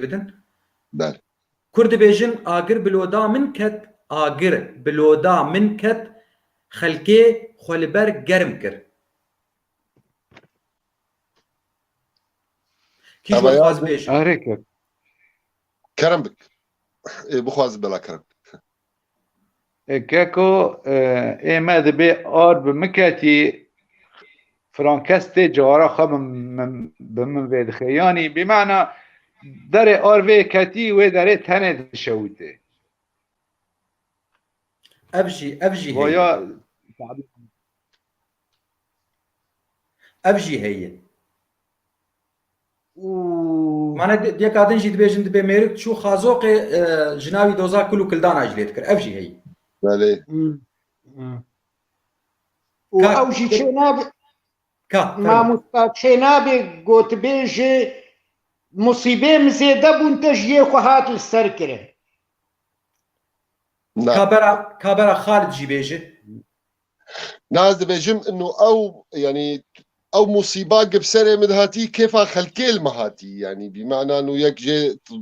bidin. Ber. Kurd dibêjin agir bi loda min ket, agir bi loda min ket xelkê xwe li ber germ kir. Kî ji wan dixwaze bêje? Erê kir. Kerem bik. Ê bixwaze bela kerem. Keko ê me dibê ar bi min ketî Frankes tê cihara xwe bi min vê dixe yanî bîmana derê ar vê ketî wê derê tenê dişewitê. Ev jî ev jî heye. Ev jî heye. û Mane duyeka din jî dibêjin dibê mêrik çû xazoqê jina wî doza kul û kildana jî lê dikir. Ev jî heyî. Belê. Û Ka- ew jî çê nabe Ka. fermû. mamosta çê nabe gotibêjê musîbê min zêde bûn te ji yê xwe hat li ser kirin. Na. Ka bera ka bera Xalid jî bêje. Na ez dibêjim inu ew yanî ew musîba ki bi serê min hatî kêfa xelkê li min hatî yanî bi mana nu yek jê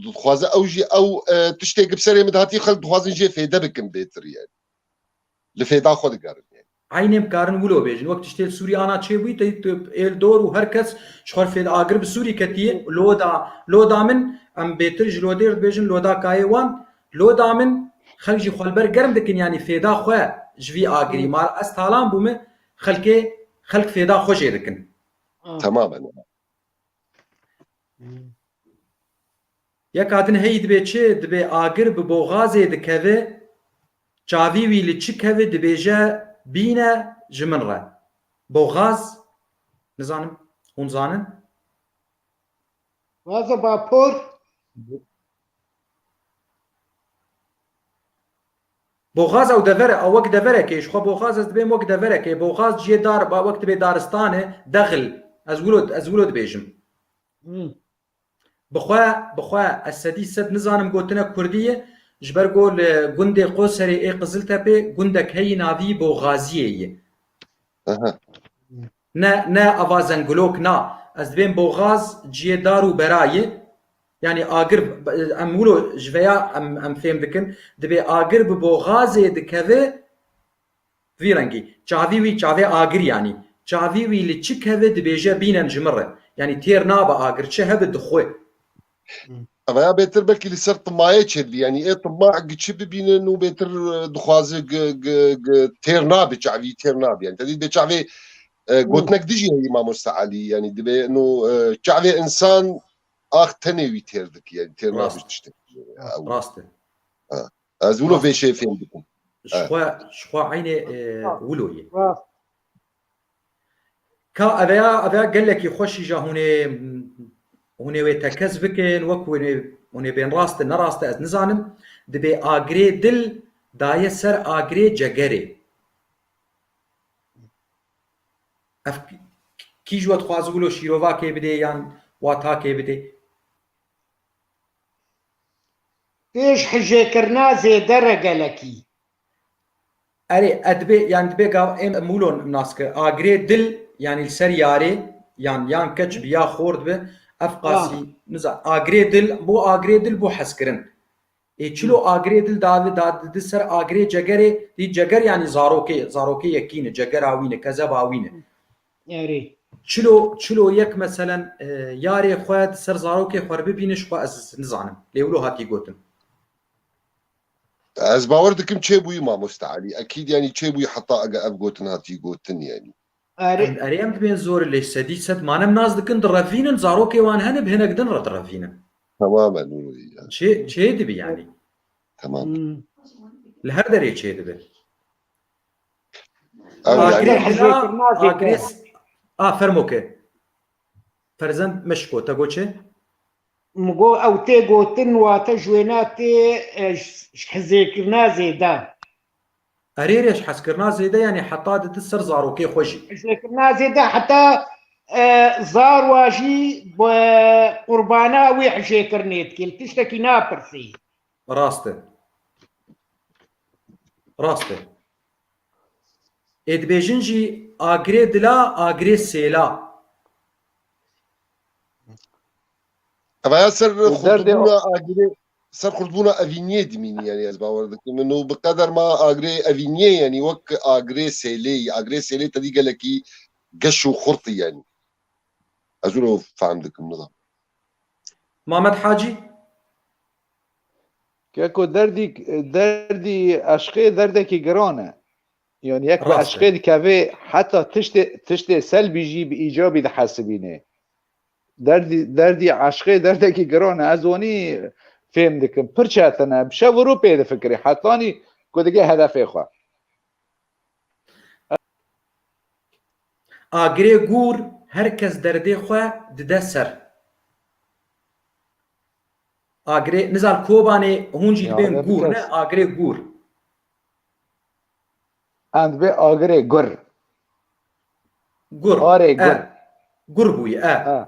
dixwaze ew jî ew e, tiştê ki bi serê min hatî xelk dixwazin jê fêde bikin bêtir yanî. Li fêda xwe digerin yanî. Eynê bi karin wilo bêjin wek tiştê li Sûrî ana çêbûyî tey tu êl dor û her kes ji xwe re fêde agir bi Sûrî ketî loda loda min em bêtir ji lodê re dibêjin loda kayê wan Loda min, xelk jî xwe li ber germ dikin yanî fêda xwe ji vî agirî ma re ez talan bûme xelkê xelk fêda xwe jê dikin. Temamen. Yeka din heyî dibe çi? Dibe agir bi boxazê dikeve çavî wî li çi keve dibêje bîne ji min re. Boxaz nizanim hûn zanin? Vaze vapor. Boxaz ew dever e, ew wek deverek ê, ji xwe Boxaz ez dibêm wek deverek ê, Boxaz ciyê dar ba wek dibê daristan e, dexil, ez wilo ez wilo dibêjim. Bi xwe bi xwe ez sedî sed nizanim gotinek kurdî ye, ji ber ku li gundê Qoserê ê Qiziltepê gundek heyî navî Boxaziyê ye. Ne ne ava zengulok na ez dibêm bo gaz ciyê dar û berayê yanî agir em wilo ji veya em em fêm dikin dibê agir bi bo gazê dikeve vî rengî çavî wî çavê agir yanî çavî wî li çi keve dibêje bînen ji min re yanî têr nabe agir çi hebe dixwe. Evaya bêtir belkî li ser timayê çêdibî yanî ê tima giçi bibînin û bêtir dixwaze têr nabî çavî têr nabî yani tedî bê çavê gotinek dijî heyî mamoste Elî yanî dibê no çavê insan ax tenê wî têr dikî yani têr nabî tiştê rast e ez wilo vê şê fêm dikim ji xwe ji xwe eynê wilo yê Ka eveya eveya gelekî xweş îja hûnê hûnê wê tekez bikin wek hûnê hûnê bên rast e nerast e ez nizanim dibê agirê dil daye ser agirê cegerê. Ev kî ji we dixwazibû lo şîrovakê bidê yan watakê bidê? Pêş hijêkirina zêde re gelekî Erê, e dibe yanî dibe gav ê mûlon nas ke agirê dil yanî li ser yarê yan yan keç bi ya xort bi ev qasî nizan agirê dil bo agirê dil bo hezkirin. Ê çilo agirê dil dave da di ser agirê cegerê dî ceger yanî zarokê zarokê yekîne cegera wîne kezeba wîne. Erê. Çilo çilo yek meselen yarê xwe di ser zarokê xwe bibîne ji xwe ez nizanim lê wilo hatî gotin. Ez bawer dikim çêbûyî mamoste Elî. Ekîd yanî çêbûyî heta ege ev gotin hatî gotin yanî. Erê em dibên zor lê sedî sed manem nas dikin direvînin zarokê wan hene bi hinek din re direvînin. Temam e nûro yî. Çê çê dibi yanî. Temam. Li her derê çê dibi. Agirê hizêkirina agirê a fermo ke. Ferzend meşko te got çê? Min got ew tê gotin wate ji wêne tê ji hizêkirina zêde. Erê rê ji hezkirina zêde yanî heta didi ser zarokê xwe jî. Hizêkirina zêde heta zar wa jî bi qurbana wê hijêkirinê dike li tiştekî napirsî. Rast e. Rast e. Ê dibêjin jî agirê dila agirê sêla. Eva ya ser Û derdê xurtbûna agirê ser xurtbûna evîniyê dimînî yanî ez bawer dikim min û bi qeder ma agirê evîniyê yanî wek agirê sêlêyî agirê sêlê tedî gelekî geş û xurt yanî ez wilo fehm dikim nizam Mamed Hacî Keko derdî derdî eşqê derdekî giran e. Yanî yek bi eşqê dikevê heta tiştê tiştê selbî jî bi îcabî dihesibînê. Derdî derdî eşqê derdekî giran e. Ez wanî fêm dikim. Pir çetin e. Bi şev û rû pê difikirî hetanî ku digê hedefê xwe. Agirê gûr her kes derdê xwe dide ser. Agirê nizan Kobanê hûn jî dibên gûr ne agirê gûr. And be agirê gur. Gur. Arê e. gur. Gur bûyî e. E.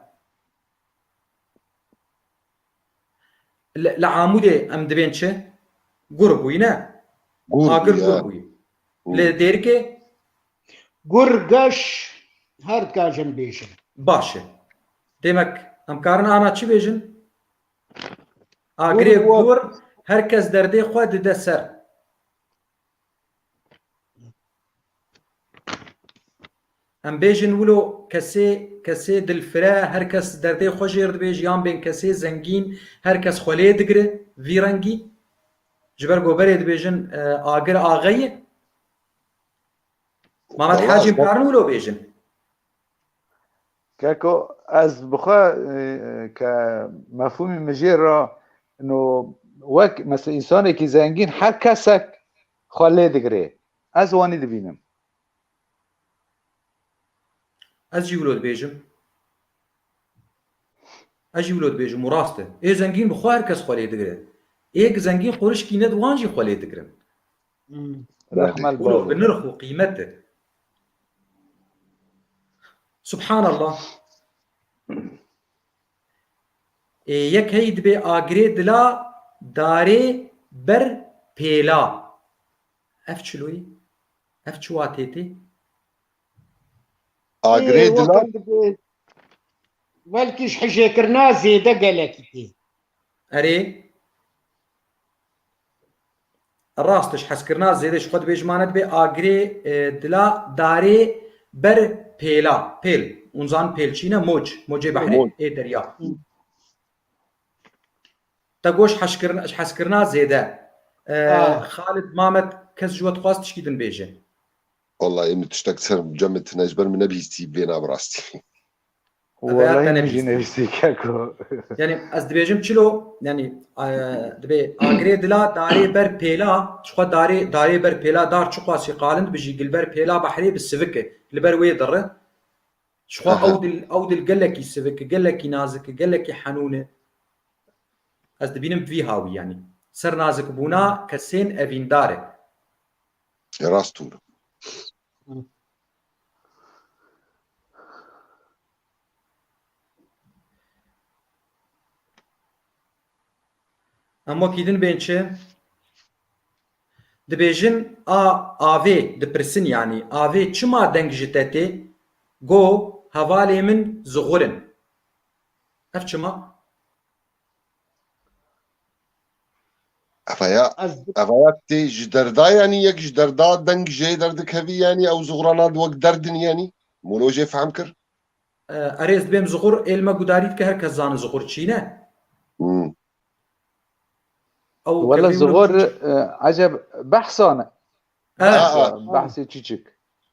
Li li amûdê em dibên çi? Gur bûyî ne? Gur Agir bûyî, gur e. bûyî. Gur. Li dêrikê Gur geş her dikajin bêjin. baş e. Demek em karin ana çi bêjin? Agirê gor her kes derdê xwe dide ser. Em bêjin wilo kesê kesê dilfire her kes derdê xwe jêr dibê jiyan bên kesê zengîn her kes xwe lê digire vî rengî ji ber goberê dibêjin e, agir axeyê Mamet Hacî karin wilo bêjin. Keko ez bi xwe ke mefhûmî mijêr ra no wek mesela însanekî zengîn her kesek xwe lê digirê. Ez wanî dibînim. Ez jî wilo dibêjim. Ez jî wilo dibêjim û rast e. Ê zengîn bi xwe her kes xwe lê digire. Ê zengîn qurişkî ne di wan jî xwe lê digirin. Rehme li bavê. Bi nirx û qîmet e. Subhanallah. Ê yek heyî dibê agirê dila darê ber pêla. Ev çiloyî? Ev çi watê tê? Agirê dila Welkî ji hijêkirina zêde gelekî tê. Erê. Rastiş hezkirina zêde ji xwe divê ji mane dibe agirê dila darê ber pêla, pêl, hûn zanin pêl çi ne moc, mocê behrê Moc. ê derya. Te goş heşkirin- ji hezkirina zêde. Ah. Xalid Mamet kes ji we dixwaz tişkî din bêje. Walayi min tiştek li ser cem tine ji ber min nebihîstî bêhna bi rastî. Walayi min jî nivîsî keko. Yanî ez dibêjim çilo yanî dibê agirê dila darê ber pêla çixwe darê darê ber pêla dar çiqasî qalind bi jî gilber pêla behrê bi sivik e li ber wê diri çixwe ew dil ew dil gelekî sivik e gelekî nazik e gelekî henûn e ez dibînim bi vî hawî yanî ser nazikbûna kesên evîndar e. Rast hûn. Ema kîdin bên çi? Dibêjin a avê dipirsin yanî avê çima deng ji te tê? Go hevalê min zixur in. Ev çima? Evaya, Ez evaya tê ji derda yanî yek ji derda deng jê derdikevî yanî ew zuxurana di wek derdin yanî molo jê fehm kir. e, erê ez dibêm zuxur êl me gudarî dike her kes zane zuxur çî ne. Hmm. Ew Wala kevî min- zuxur e, eceb behsane. E, Aa, Behsê çiçik.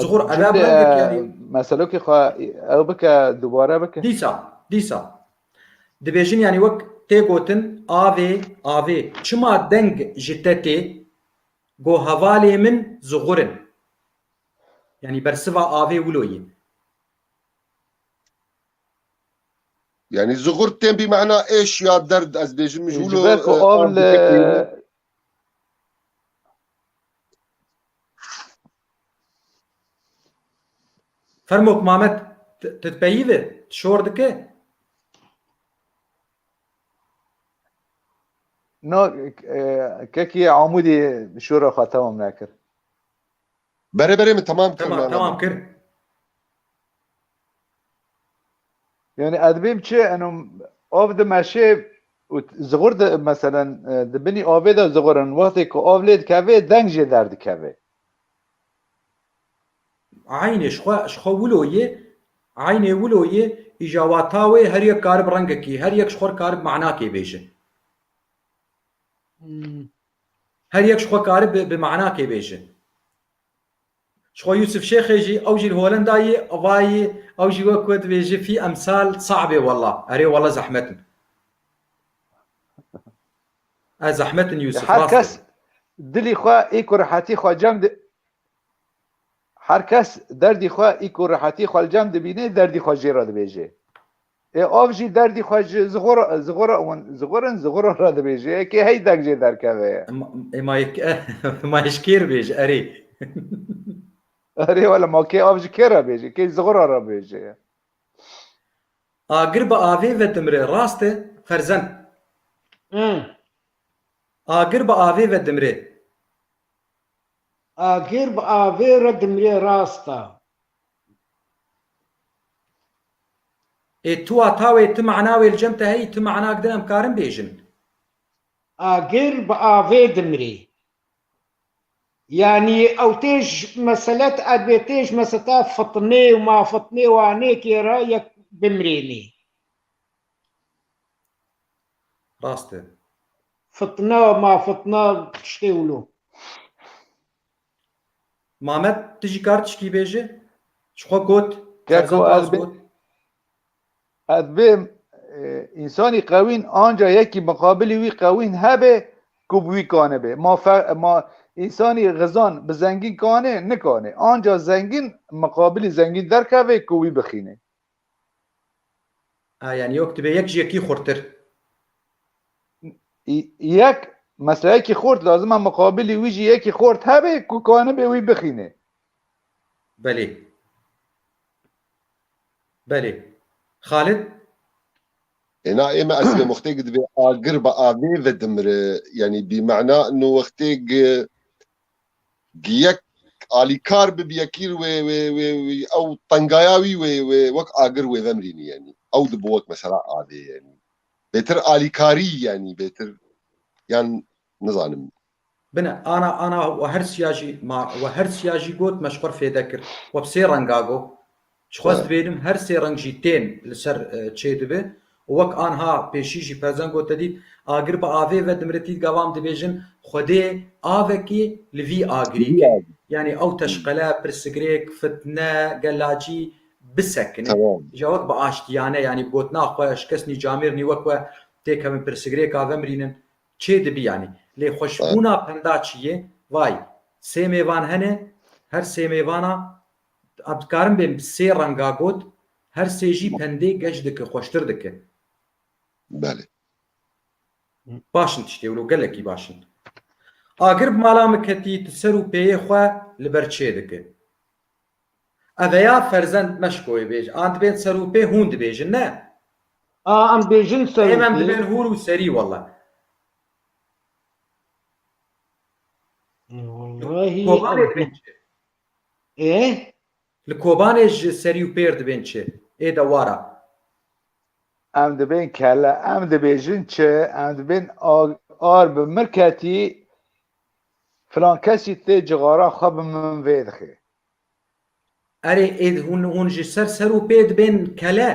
Zuhur Erab meselokê xwe ew bike dubare bike. Dîsa dîsa dibêjin yanî wek tê gotin avê avê çima deng ji te tê go hevalê min Zuhur in yanî bersiva avê wilo ye. Yanî Zuhur tên bîmana êş ya derd ez bêjim ji wilo. Fermok Mamet titpeyive şor dike. No kekî amûdî şora xwe temam nekir. Berê berê min temam kir. Temam kir. Yanî ez dibîm çi eno av dimeşê û ziqur di meselen di binî avê de ziqurin wextê ku av lê dikevê deng jê derdikevê. Eynê ji xwe ji xwe wilo yê eynê wilo yê îja wata wê her yek karib rengekî her yek ji xwe karib manakê bêjin. Her yek ji xwe karib bi manakê bêjin. Ji xwe Yûsif Şêxê jî ew jî li Holenda yê evayî ew jî wek we dibêje fî emsal saeb ê wella erê wella zehmet in. Ez zehmet in Yûsif rast e. Her kes dilî xwe î ku rehetî xwe cem di Her kes derdî xwe î ku rehetî xwe li cem dibînê derdî xwe jê re dibêje. Ê av jî derdî xwe ji zixurin zixura re dibêje kê hey deng jê derkeve ye. Ma ji kê re bêje erê. Erê wele ma kê av ji kê re bêje kê zixura re bêje ye. Agir bi avê ve dimire rast e ferzend. Agir bi avê ve dimire. Agir bi avê re dimire rast a. Ê tuwa tawê ti mana wê li cem te heyî ti mana gidin em karin bêjin. Agir bi avê dimire. Yanî ew tê ji mesele ti erbê tê ji meseta fitnê û ma fitnê wanê kê re yek bimirênê. Rast e. Fitne ma fitne tiştê wilo. Mamed tu jî kar tişkî bêji? Ji xwe got, Keko Ferzand ez rast bê got. ez bêm e, însanî qewîn anca yekî miqabilî wî qewîn hebê ku bi wî kanibê. Ma fe, ma însanî xizan bi zengîn kanê nikanê. Anca zengîn miqabilî zengîn derkevê ku wî bixînê. A yani yok dibe yek ji yekî xurttir. Yek meseleyekî xort lazim e muqabilî wî jî yekî xort hebe ku kanibe wî bixînê. Belê. Belê. Xalid? Êna ême eslê muxtêk divê agir bi avê ve dimire. Yanî bîmana nu wextêk Diyek alîkar bi biyekîr wê wê wê wê ew tengaya wî wê wê wek agir wê vemrînî yenî. Ew di bo wek mesela adê yenî. Bêtir alîkarî yenî bêtir yan nizanim. Bine ana ana we her siya jî ma we her siya jî got meşxur fêde kir. We bi sê renga got Dixwest bênim her sê reng jî tên li ser çê dibe û wek anha pêşî jî Perzen got te dît agir bi avê ve dimiritît gavam dibêjin Xwedê avekî li vî agirî ke yanî ew teşqele, pirsigrêk, fitne, gelacî bisekine ja wek bi aştiyane yanî gotina xwe ji kes nîcamêrnî wek we têkevin pirsigrêka vemirînin çê dibî yanî lê xweşbûna penda çi yê vay sê mêvan hene her sê mêvana A dikarim bê sê renga got her sê jî pendê geş dike xweştir dike. Belê. Baş in tiştê wilo gelekî baş in. Agir bi mala min ketî tu ser û pêyê xwe li ber çê dike. Eveya ferzend meşkoyê bêje an dibên ser û pê hûn dibêjin ne. A em bêjin ser û pê. Êm em dibên hûr û serî wela. Wallahi. Ê? Li Kobanê ji serî û pêr dibên çi? Ê de war a. Em dibên kelle, em dibêjin çi? Em dibên ar bi min ketî, filankesî tê cixaran xwe bi min vê dixê. Erê ê hûn hûn ji ser ser û pê dibên kelle?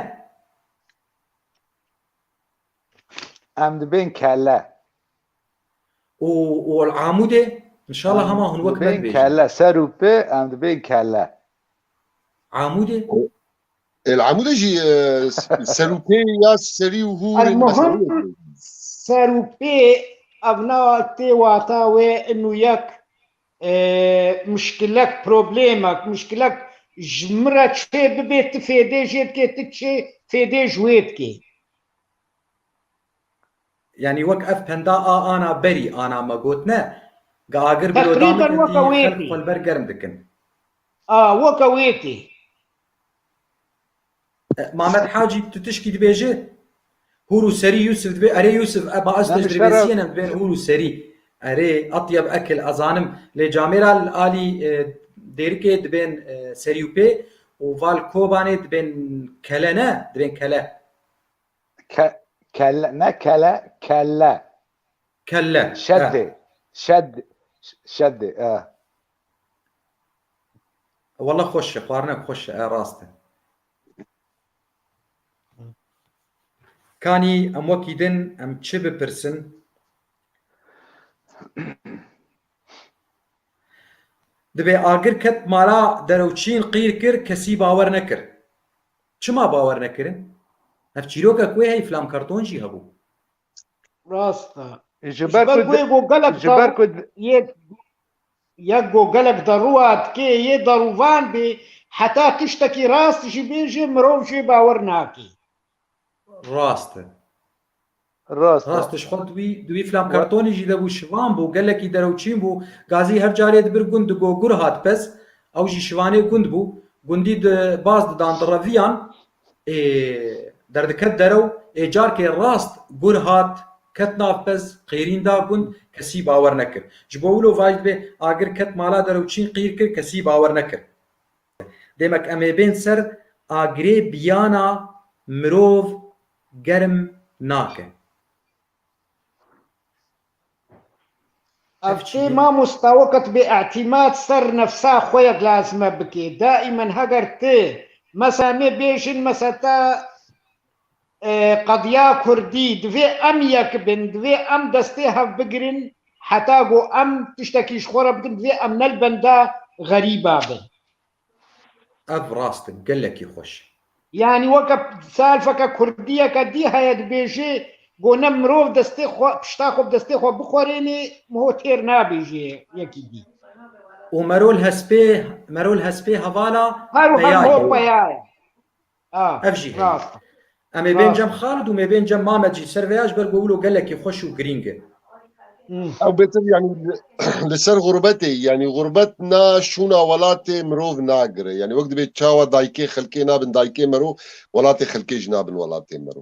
Em dibên kelle. û û el amûdê inşallah hema hûn wek me dibêjin. kelle ser û pi em dibên kelle. Amûdê? El amûdê jî e, ser û pê ya serî û hûr Ez muhim ser û pê ev na tê wata wê inû yek e, muşkilek, problemek, muşkilek ji min re çê bibê tu fêdê jê dikê tu çê fêdê ji wê dikê. Yanî wek ev penda a ana berî ana me got ne, ga agir bi lodamê ke tî xelk xwe li ber germ dikin. A, weke wê tî. Mamed Hacî tu tişkî dibêjî? Hûr û serî Yûsif dibê, erê Yûsif e ba ez te ji rêbêsiyên em bên hûr û serî. Erê, etyeb ekil ez zanim lê camê ra li alî dêrikê dibên serî û pê û va li Kobanê dibên kele ne, dibên kele. Ke, kelle, ne kele, kelle. Kelle. Şeddi. He. Şed, şeddi. E. Valla xweş e, xwarine xweş e, e rast e. Kanî em wekî din em çi bipirsin? Dibê agir ket mala derewçîn qîr kir kesî bawer nekir. Çima bawer nekirin? Ev çîroka ku heyî Flam Karton jî hebû. Rast e. Ji ber ku yê ku gelek yê yek ku gelek derûat kê yê derûvan bê heta tiştekî rast jî bêjê mirov jê bawer nake. Rast e. Rast e. Rast e, ji xwe di wî di wî filan kartonî jî de bû, şivan bû, gelekî deroçîn bû. Gazî her carê di bir gund di go, gur hat pez. Ew jî şivanê gund bû. Gundî di baz didan di reviyan. Ê, derdiket derew. Ê carkê rast gur hat, ket nav pez, qêrîn da gund, kesî bawer nekir. Ji bo wilo vajî dibe, agir ket mala deroçîn qîr kir, kesî bawer nekir. Demek em ê bên ser agirê biyana mirov. germ nake. Ev tê mamosta weqet bê îtîmat ser nefsa xwe yek lazime bike. Daîmen heger ti mesa me bêjin mesa te qediya kurdî divê em yek bin, divê em destê hev bigirin heta ku em tiştekî ji xwe re bikin divê em ne li benda xerîba bin. Ev rast e, gelekî xweş. Yanî weke selfeke kurdiyeke dî heye dibêjê ku ne mirov destê xwe pişta xwe bi destê xwe bixwerênê ho têr nabêjê yekî dî. Û merol hespê, merol hespê hevala peya ye. Ho peya ye. Ev jî heye. Em ê bên cem Xalid û mêbên cem Mamed jî ser veya ji ber ku wilo gelekî xweş û girîng e. Ew bêtir yanî li ser xurbetê yanî xurbet na şûna welatê mirov nagire. Yanî wek dibê çawa daykê xelkê nabin daykê mero, welatê xelkê jî nabin welatê mero.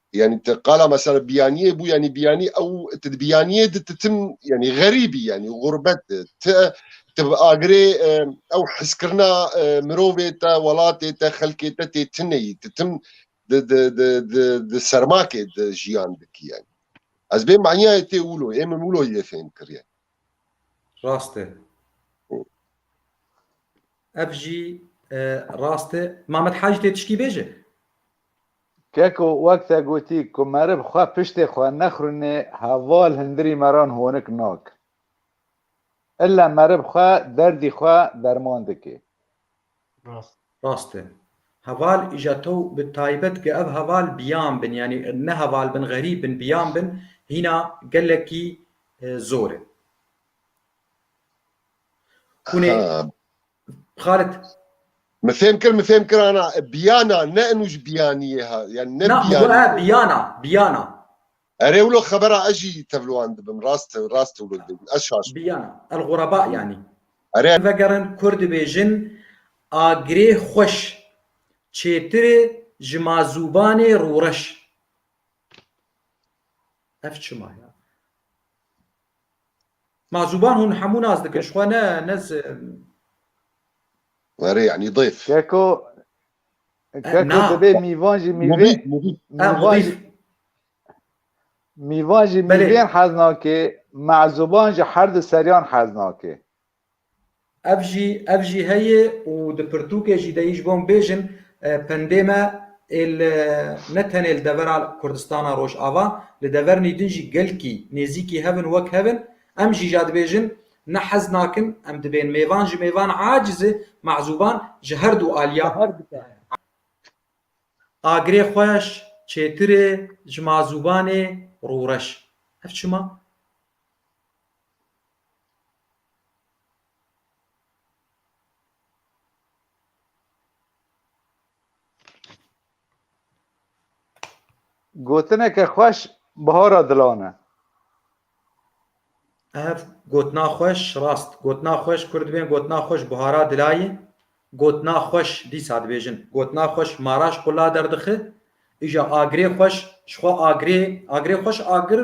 Yanî ti qala mesela biyaniyê bû yanî biyanî ew ti di biyaniyê di ti tim yanî xerîbî yanî xurbet di ti ti bi agirê ew heskirina mirovê te welatê te xelkê te tê tineyî ti tim di di di di di sermakê di jiyan dikî yanî ez bê maniyayê tê wilo ê min wilo yê fêm kir yanî. Rast e. Ev jî rast e. Mamed Hacî tê tişkî bêje? Keko wek te gotî ku meriv xwe piştê xwe nexrûnê heval hindirî meran honik nakin. Ille meriv xwe derdî xwe derman dike. Rast. Rast e. Heval îja to bi taybet ge ev heval biyan bin yanî ne heval bin xerîb bin biyan bin hîna gelekî zor e. Hûnê Xalit. Mi fêm kir, mi fêm kir ana biyana ne inu ji biyaniyê ha yani ne biyana. Biyana, biyana. Erê wilo xebera ez jî tevliwan dibim rast rast wilo dibim ez şaş. Biyana el xuraba yanî. Erê. Vegerin kurd dibêjin agirê xweş çêtirê ji ma zûbanê rûreş. Ev çima ya? Ma zuban hûn hemû nas dikin ji xwe ne ne Were yanî dêf. Keko Keko dibê mîvan jî mîvê mîvan jî mîvan jî mîvên hez nake, ma zuban ji her du seriyan hez nake. Ev jî ev jî heye û di pirtûkê jî de ji bo em bêjin pendê me ê li ne tenê li devera Kurdistana Rojava li devernî din jî gelkî nêzîkî hev in wek hev in. Em jî ja dibêjin ne hez nakin em dibên mêvan ji mêvan aciz e mezûban ji her du aliya agirê xweş çêtir e ji mazûbanê rûreş. Ev çima? Gotineke xweş bihara dilan e. Ev gotina xweş rast. Gotina xweş Kurd bên gotina xweş bihara dilayê. Gotina xweş dîsa dibêjin. Gotina xweş maraş xwe la derdixe, îja agirê xweş ji xwe agirê, agirê xweş agir,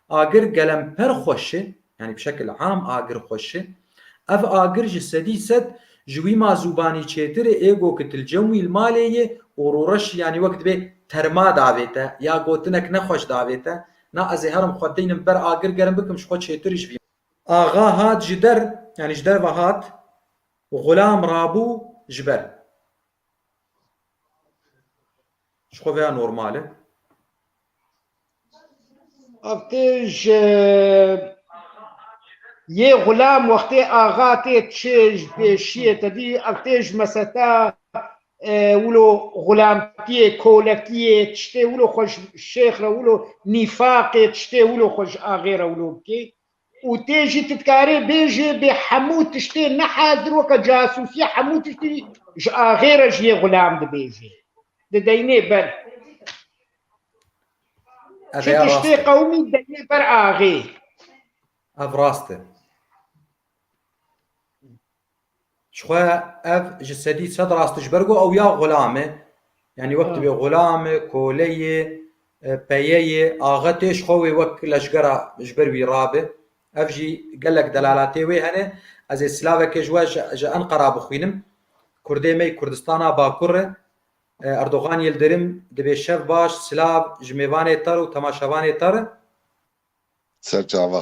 agir gelemper xweş e, yanî bi şekil am agir xweş e. Ev agir ji sedî sed ji wîma zûbanî çêtir e, ê go ki tilcem wî li malê yê û rûreş yanî wek dibê terma davête ya gotinek ne xweş davête, na ez ê herim xwe teynim ber agir gerim bikim ji xwe çêtir jî bîm. Axa hat ji der, yanî ji derve hat, Xulam rabû ji ber. Ji xwe veya normal e. Wextê ji Yê xulam wextê axa tê çi ji pêşiyê tedî wextê ji meseta wilo xulamtiyê, kolekiyê tiştê wilo xwe ji şêx re wilo nîfaqê tiştê wilo xwe ji axê re wilo bikê. û tê jî tu dikarê bêjê bê hemû tiştê nehazir weke casûsî hemû tiştî ji axê re jiyê xulam dibêjê dideynê ber Çi tiştê qewmî deynê ber axê. Ev rast e. Jixwe ev ji sedî sed rast ji ber ku ew ya xulam e. Yanî wek tu bê xulam e, kole yê, peye yê, axetê ji xwe wê wek leşgera ji ber wî rabe. Ev jî gelek delalatê wê hene. Ez ê silavekê ji we ji Enqera bixwînim. Kurdê me yê Kurdistana Bakur re. Erdogan Yildirim dibê şev baş, silav ji mêvanê te re û temaşevanê te re. Serçava.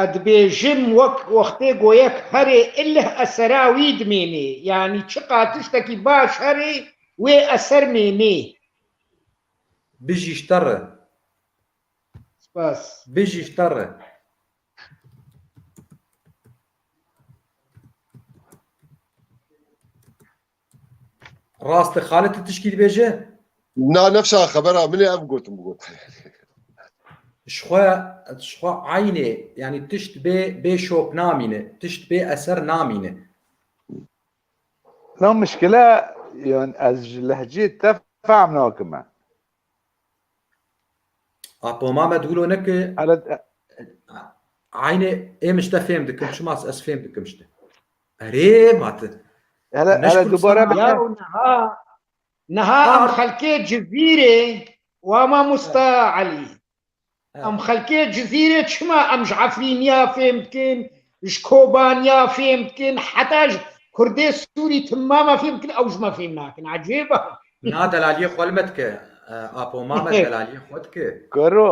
Ez dibêjim wek wextê ku yek herê ilih esera wî dimênê, yanî çiqa tiştekî baş herê wê eser mênê. Bijî Şterre. Spas. Bijî Şterre. Rast e Xalid tu tişkî dibêje? Na nefşa xebera min ê ev gotin bigot. Şxwe şxwe aynê yani tişt bê bê şop namîne, tişt bê eser namîne. Na muşkile yan ez ji lehceyê te fehm nakime. Apo Mamed wilo ne ki aynê êm işte fêm dikim şima ez fêm dikim işte. Erê mati. Hele hele dubare ya neha neha em xelkê civîrê wa ma musta Ali. Em xelkê Cizîrê çima em ji Efrîniya fêm dikin, ji Kobaniya fêm dikin, heta ji Kurdê Sûrî timama fêm dikin, ew ji me fêm nakin. Ecêb e. Na delaliyê xwe li me dike. Apo Mamed delaliyê xwe dike. Karo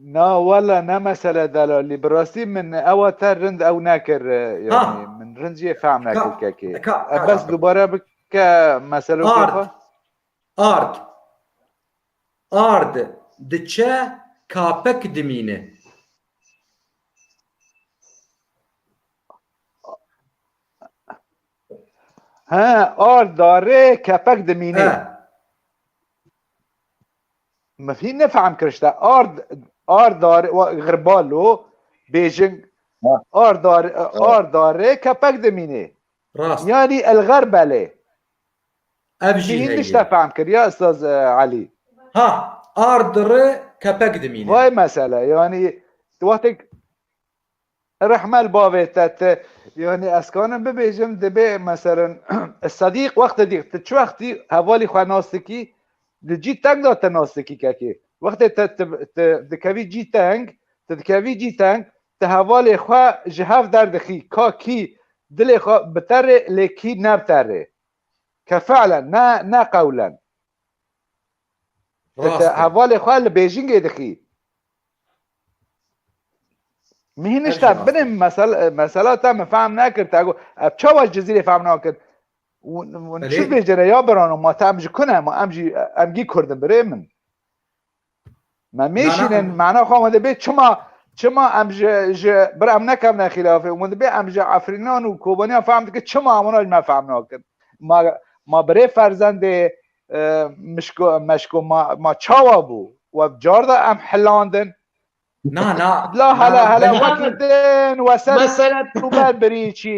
Na wala ne mesele delalî. Bi rastî min ewa te rind ew nekir yanî min rind jê fehm nekir kekê. Bes dubare bike meselokê xwe. Ard, ard diçe kapek dimîne. He, ard darê kepek dimîne. He. Me fî nefehm kir işte. Ard, ard darê, xirbalo, bêjing, ard darê, ard darê kepek dimîne. Rast. Yani el xirbelê. Ev jî Hîn heye. tişte fehm kir ya Ustaz Elî. Ha, ard ri kepek dimîne. Vay mesele yanî tu wextêk rehme li bavê te ti yanî ez kanim bibêjim dibê meselin Sedîq wextê dîq ti çi wextî hevalî xwe nas dikî di cî teng de te nas dikî kekê. Wextê te ti dikevî cî teng, ti dikevî cî teng Ti hevalê xwe ji hev derdixî ka kî dilê xwe biterê lê kî nebiterê. Ke fi'len ne ne qewlen. Ti ti hevalê xwe li bêjingê dixî. Min hîn nişta binê mesela te min fehm nekir. Te got ev çawa ji Cizîrê fehm nakin. Wan çi bêjin re ya birano ma te em ji ku ne ma em jî em gî kurd in birê min. Me mêşînin mana xwe hûn dibê çima çima em ji ji bir em nekevne xîlafê hûn dibê em ji efrînan û kobaniyan fehm dikin çima em wan me fehm nakin ma ma birê ferzendê mişko meşko ma ma çawa bû we car da em hilandin Na na la hala hala wekî din we ser ber birî çî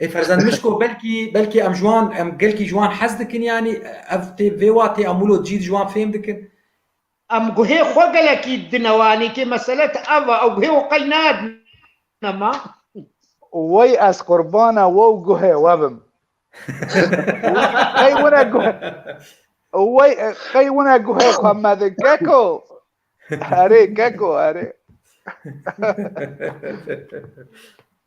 Ê ferzend mişko belkî belkî em ji wan em gelkî ji wan hez dikin yanî ev tê vê wa tê em wilo cî ji wan fêm dikin. Em guhê xwe gelekî dine wanî kê mesele ti ev e ew guhê wan qey nadine ma. Wey ez qurbana we û guhê we bim. Qey wina guhê Wey qey wina guhê xwe me di keko. Erê keko erê.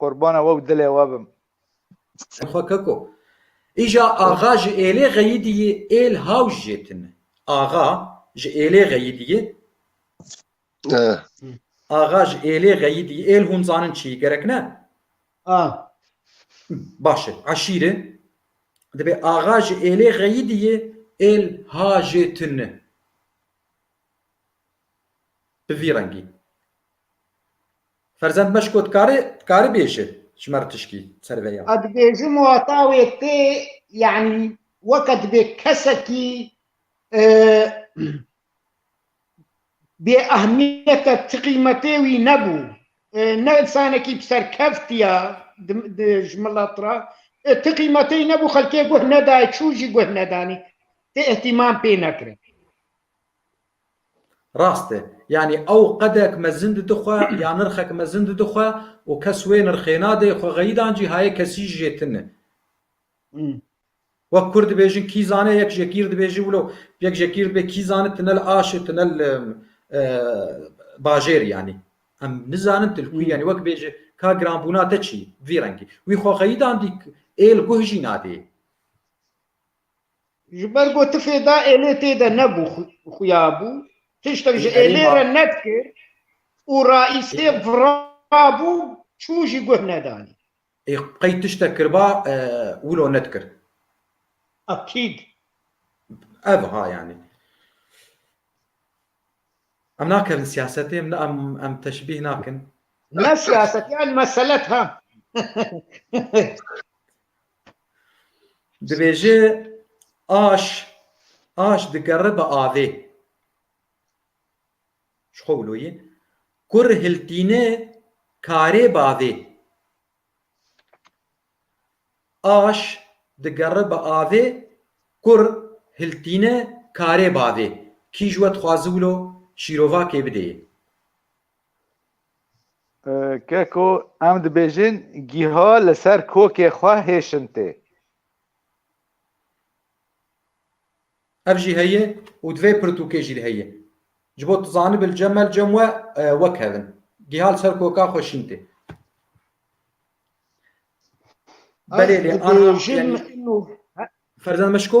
Qurbana we û dilê we bim. Xwe keko. Îja axa ji êlê xeyîdî yê êl hawj jê tune. Axa ji êlê xeyîdî yê. Axa ji êlê xeyîdî yê. Êl hûn zanin çi yî gerek ne? A. Baş e. Eşîr e. Dibê axa ji êlê xeyîdî yê êl ha jê tune. Bi vî rengî. Ferzend meş got kari kari bêje ji me tişkî ser vê ya. Edibêjim wata wê tê yani weke dibê kesekî bê ehmiyete ti qîmetê wî nebû. Ne insanekî bi serkevtiya ji milet re ti qîmetê nebû xelkê guh nedaye çû jî guh nedanî ti îhtîmam pê nekirin. Rast e. Yanî ew qedek mezin dide xwe ya nirxek mezin dide xwe û kes wê nirxê nade, xwe xeyidan cî hayê kesî ji jê tune. Wek kurd dibêjin kî zane yek jê kîr dibêje wilo yek jê kîr dibê kî zane tune li aşê tune li bajêr yanî em nizanin tu li ku yanî wek bêje ka giranbûna te çi vî rengî wî xwe xeyidan dî ê li guh jî nadê. Ji ber ku ti fê da êlê tê de nebû xuya bû, tiştek ji êlê re nedikir û raîstê virabû çû jî guh nedanî. Ê qey tiştek kiriba wilo nedikir? Akîd. Ev ha yanî. Em nakerin siyasetê, em ne em em teşbîh nakin. Ne siyaset yan meselet ha. Dibêje aş aş digere bi avê. Ji xwe wiloyê. Kur hiltîne karê bavê. Aş digere bi avê kur hiltîne karê bavê. Kî ji we dixwaze wilo şîrovakê bidê? Keko em dibêjin gîha li ser kokê xwe hêşin tê. Ev jî heye û divê pirtûkê jî heye. Ji bo tu zanibî li cem me li cem we wek hev in. Gîha li ser koka xwe şîn tê. Belê lê aniha ferzend me şiko?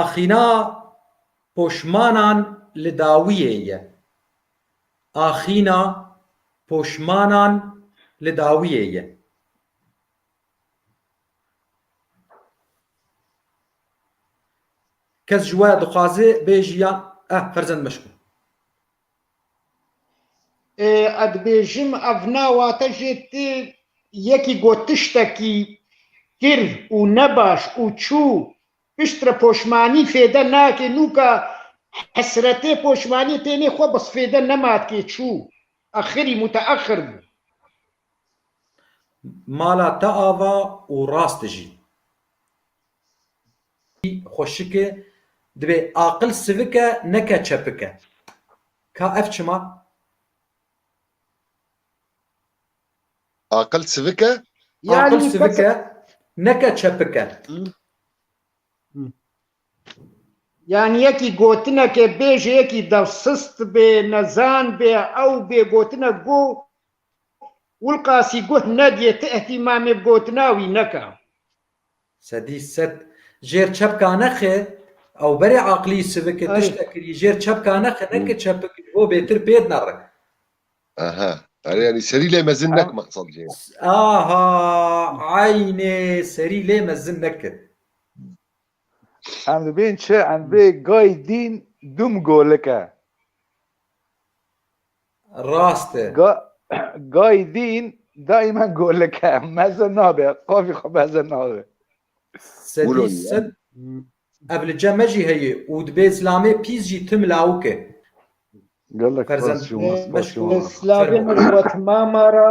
Axîna poşmanan li dawiyê ye. Axîna poşmanan li dawiyê ye. Kes ji we dixwaze bêjî yan eh ferzend meşk bû. Ez dibêjim ev ne wate jê tu yekî got tiştekî kir û nebaş û çû pişt re poşmanî fêde nake nûka hesretê poşmanî tênê xwe bis fêde nema dikê çû axirî muteaxir bû. Mala te ava û rast dijî. Spî xweşik e, dibê aqil sivik e neke çepik e. Ka ev çima? Aqil sivik e? Aqil sivik e neke çepik e. Yanî yekî gotineke bê ji yekî de sist bê, nezan bê, ew bê, gotinek go Wilqasî guh nediyê, ti îhtîmamê bi gotina wî neke. Sedî sed jêr çepka nexi ew berê aqlî siviki tişte kirî jêr çepka nexi neke çepik ji bo bêtir pêd nerik. Aha erê yanî serî lê mezin nek mexsad jê. Aha eynê serî lê mezin nekir. Em dibên çi em bê gay dîn dum golike. Rast e. Ga, gayî dîn daimen golike meze nabe, qavî xwe meze nabe. Sedî sed ev li cem me jî heye û dibê zilamê pîz jî tim lawik e. Gelek Ferzend, spas şima, spas şima. Slavê min xwe timama ra.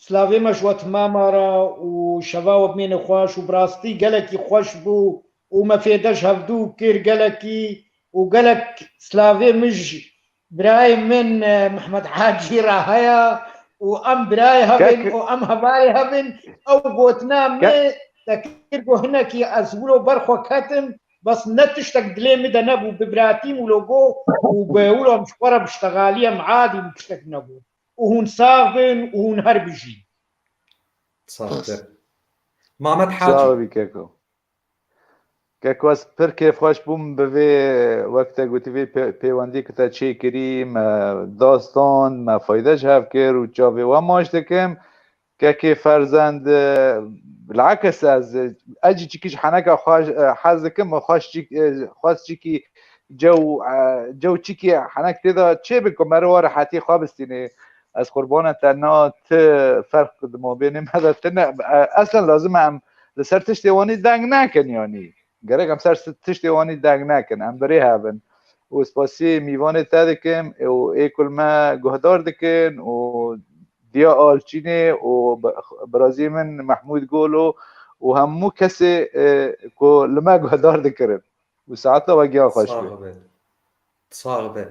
Slavê me ji we timama ra û şeva we bimêne xweş û bi rastî gelekî xweş bû û me fê de ji hevdu kir gelekî û gelek slavê min ji birayê min Mihmed Hacî ra heye û em birayê hev in û em hevalê hev in ew gotina min te kir ku hinekî ez wilo ber xwe ketim bes ne tiştek dilê min de nebû bibratîm wilo got û wilo em ji xwe re biştegalî em adî bû tiştek negot. û hûn sağ bin û hûn her bijîn. Saxte. Mamed Hacî. Sağ bî Keko. Keko ez pir kêfxweş bûm bi vê wek te gotî vê pêwendî ki te çêkirî me dastan me fayde ji hev kir û çavê we maş dikim. Kekê ferzend bilakis ez ez jî çikî ji heneka xwe hez dikim û xweş çî xwez çîkî cew cew çîkî henek tê de çêbin ku me re wa rehetî xwe bistînê ez qurbana te na ti ferq di mabênê me de tine eslan lazim e em li ser tiştê wanî deng nekin yanî Gerek em ser tiştê wanî deng nekin, em birêhev in û spasiyê mîvanê te dikim û ê ku li me guhdar dikin û Diya Alçînê û birazî min Mehmûd Golo û hemû kesê ku li me guhdar dikirin û saeta we giyan xweş be. Sax be.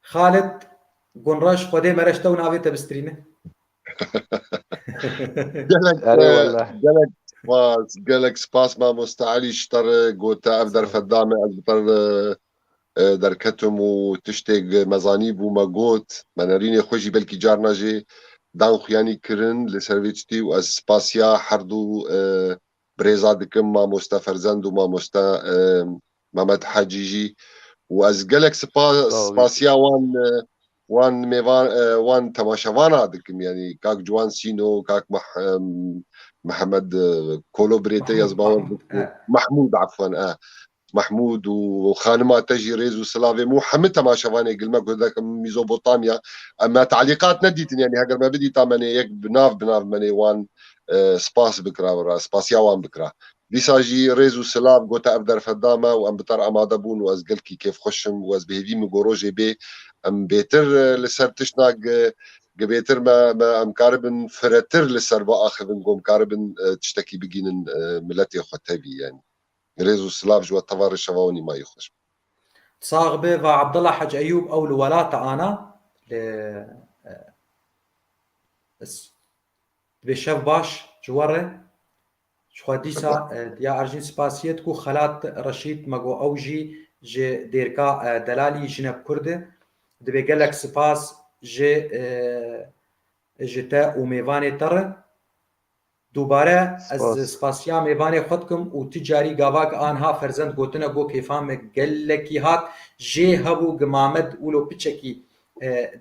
Xalid Gunraş xwedê me re ji te û navê te bistrîne. Gelek gelek spas gelek spas mamosta Elî ji te re gote ev derfet da me ez bi te re derketim û tiştêk me zanî bû me got me nerînê xwe jî belkî carna jê dan xuyanî kirin li ser vê tiştî û ez spasiya herdû birêza dikim mamoste Ferzend û mamoste Memed Hecî jî û ez gelek spasiya wan wan mêvan wan temaşevana dikim yanî kak Ciwan Sîno kak Mihemed Kolo birête ez bawer bikim Mehmûd efwan e Mahmûd û xanima te jî rêz û silavê min û hemû temaşevanê gilme ku dek in Mîzobotamya. Em me talîqat nedîtin yanî heger me bidîta me nê yek bi nav bi nav me nê wan spas bikira wira spasiya wan bikira. Dîsa jî rêz û silav gote ev derfet da me û em bi ter amade bûn û ez gelkî kêfxweş im û ez bi hêvî min got rojê bê em bêtir li ser tiştna gi gibêtir me me em karibin firetir li ser biaxivin gom karibin tiştekî bigînin miletê xwe tevî yanî. Rêz û silav ji we tevare şeva Onî mayî xweş be. Sax be va Abdullah Hec Eyûb ew li welata ana li Divê şev baş ji we re. Ji xwe dîsa diya erjîn spasiyet ku Xelat Reşîd me got ew jî ji dêrka delalî jinek kurd e. Divê gelek spas ji ji te û mêvanê te re. Dubare ez spasiya mêvanê xwe dikim û tu carî gavak a niha ferzend gotine got kêfa me gelekî hat jê hebû gimamed wilo piçekî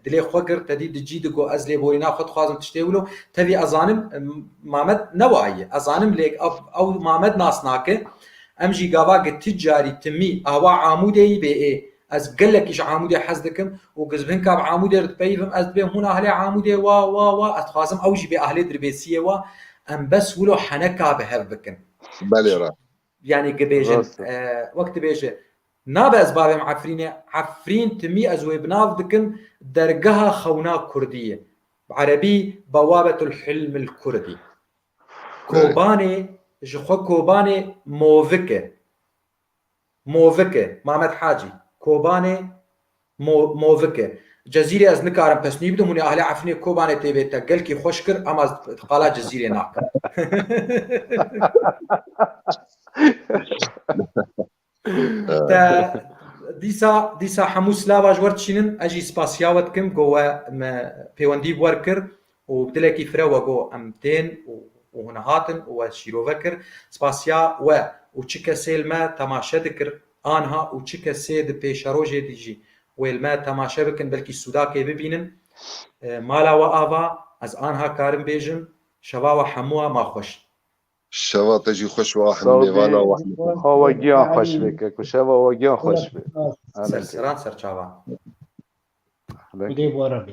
dilê xwe kir tedî di cî di got ez lê borîna xwe dixwazim tiştê wilo tevî ez zanim mamed ne wa ye ez zanim lê ew mamed nas nake em jî gavak ti carî timî awa amûdeyî bê ê Ez gelekî ji Amûdê hez dikim û gizbinka bi Amûdê re dipeyivim, ez dibêm hûn ahlê Amûdê wa wa wa, ez dixwazim ew jî bê ahlê dirbêsiyê wa, em bes wilo heneka bi hev bikin. Belê ra. Yanî gibêjin wek dibêje, nabe ez bavêm Efrînê, Efrîn timî ez wê bi nav dikim dergeha xewna kurdiyê, bi erebî Bewabetul hilmil kurdî. Kobanê ji xwe Kobanê movik e. Movik e, Mamed Hacî, Kobanê, Mo, Movik e. Cezîrê ez nikarim pesnûyî bidim, hûnê ahlê Efrînê Kobanê tê bê te gelkî xweş kir ema ez qala Cezîrê nakim. Te dîsa dîsa hemû silava ji we dişînin, ez jî spasiya we dikim ku we me pêwendî bi we kir Û bi dilekî fire we got, Em tên û hûn hatin û ez şîrove kir. Spasiya we û çi kesê li me temaşe dikir anha û çi kesê di pêşerojê de jî wê li me temaşe bikin belkî sûdakê bibînin. Mala we ava, ez anha karim bêjim, Şeva we hemû a ma xweş. Şeva te jî xweş û a hemû mêvana we hemû xweş. Xwa we giyan xweş bike ku şeva we giyan xweş be. Serseran serçavan. Hûdê were be.